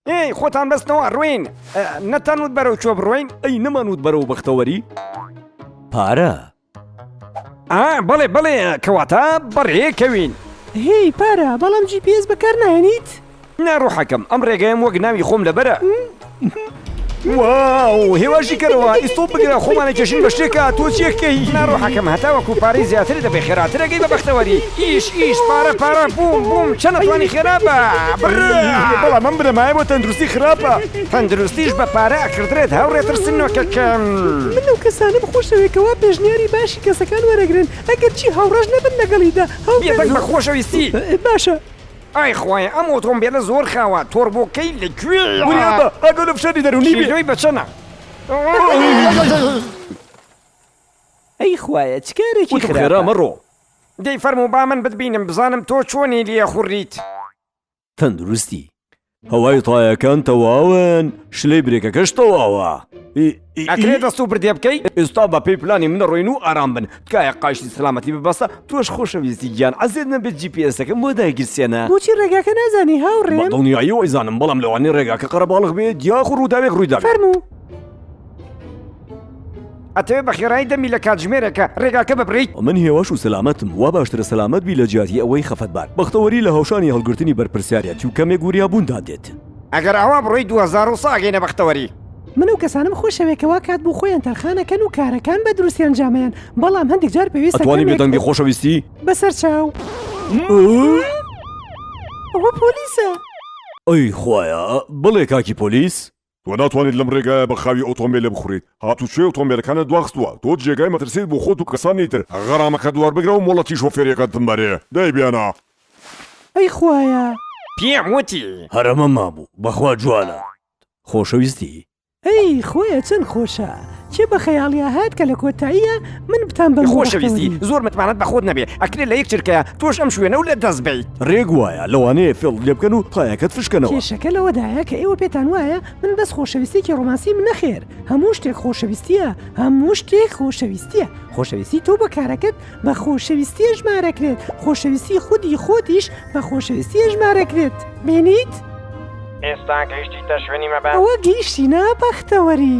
ئێی خۆتان بەستنەوە ڕوین نەتەنوت بەرەو چۆ بڕۆین ئەی نەمانوت بەرەو بەختەوەری پارە بەڵێ بەڵێ کەواتە بەڕێکەوین هی پارە بەڵام جی پێز بەکار نایێنیت ناڕوحەکەم ئەم ڕێگەیەم وەک ناوی خۆم لەبەرە واو هێواشی کەرەوە ئیسۆ بگرە خۆمانە کێشین بە شتێکە تۆ چێکەی ناڕۆحەکەم هەتا وەکو پارەی زیاتر دەبێ خێراترەکەی بە بەختەوەری ئیش ئیش پارە پارە بووم بووم چەنە توانی خێرابە بەڵام من بنەمایە بۆ تەندروستی خراپە تەندروستیش بە پارە ئەکردرێت هاوڕێ ترسنۆکەکەم من لەو کەسانەم خۆشەوێ کەوا پێشنیاری باشی کەسەکان وەرەگرن ئەگەرچی هاوڕەش نەبن لەگەڵیدا بێدەنگ بە خۆشەویستی باشە. ئای خوایە ئەم ئۆتۆمبێلە زۆر خاوە تۆربۆکەی لە کوێیە. وریا بە ئەگەر ئۆپشەنی دەرونی بێ. شیدۆی بە چەنە. ئەی خوایە چ کارێکی خراپە. وتم خێرا مەڕۆ. دەی فەرموو با من بتبینم بزانم تۆ چۆنی لێ خوڕیت. تەندروستی هەوای تایەکان تەواون شلەی برێکەکەش تەواوە ئەکرێت دەست و بردێ بکەیت ئێستا بە پێی پلانی منە ڕۆین و ئارام بن تکایە قاشی سلامەتی ببەسە تۆش خۆشەویستی گیان عزیێت نەبێ جیپسەکەم بۆ داگیرسێنە بۆچی ڕێگاکە نازانی هاوڕێ دڵنیایی وایزانم بەڵام لەوانی ڕێگاکە قەرەباڵغ بێت یاخ ڕووداوێک ڕوویدا فەرموو. ئەتەوێ بە خێرایی دەمی لە کاتژمێرێکە ڕێگاکە ببڕیت؟ من هێواش و سەلامەتم، وا باشترە سەلامەت بی لە جیاتی ئەوەی خەفەتبار. بەختەوەری لە هەوشانی هەڵگرتنی بەرپرسیارێتی و کەمێک وریابووندا دێت. ئەگەر ئاوا بڕۆی دوو هەزار و سە ئەگەینە بەختەوەری. من ئەو کەسانەم خۆشەوێ کە وا کات بۆ خۆیان تەرخان ئەکەن و کارەکان بە دروستی ئەنجام ئەیەن بەڵام هەندیک جار پێویستە کەمێک. ئەتوانی بێ دەنگی خۆشەویستی. بەسەر چاو. ئەوە پۆلیسە. ئەی خوایە بڵێ کاکی پۆلیس. تۆ ناتوانیت لەم ڕێگایە بە خاوی ئۆتۆمبێلێ بخورێیت، هاتوچۆی ئۆتۆمبێلەکانت دواخستووە، تۆ جێگای مەترسیت بۆ خۆت و کەسانی تر، غەرامەکەت وەربگرە و مۆڵەتی شۆفێریەکەت بمبەرێ، دەی بیانە. ئەی خوایە. پێم وتی. هەر ئەمەم مابوو بەخوا جوانە خۆشەویستی. ئەی خوایە چەن خۆشە. کێ بە خەیاڵیا هات کە لە کۆتاییا من بتان بە خۆشەویستی زۆر متمانەت بە خۆت نەبێ ئەکرێ لە یەک چرکەیە تۆش ئەم شوێنە و لە دەست بیت ڕێک وایە لەوانەیە فێڵ لێ بکەن و پایەکەت فشکەنەوە کێشەکە لەوەدایە کە ئێوە پێتان وایە من بەس خۆشەویستێکی ڕۆمانسیم نەخێر هەموو شتێک خۆشەویستییە هەموو شتێک خۆشەویستییە خۆشەویستی تۆ بە کارەکەت بە خۆشەویستیە ژمارەکرێت خۆشەویستی خودی خۆتیش بە خۆشەویستیە ژمارەکرێت بینیت؟ ئێستا گەیشتیتە شوێنی مەبەست؟ ئەوە گەیشتینە بەختەوەری.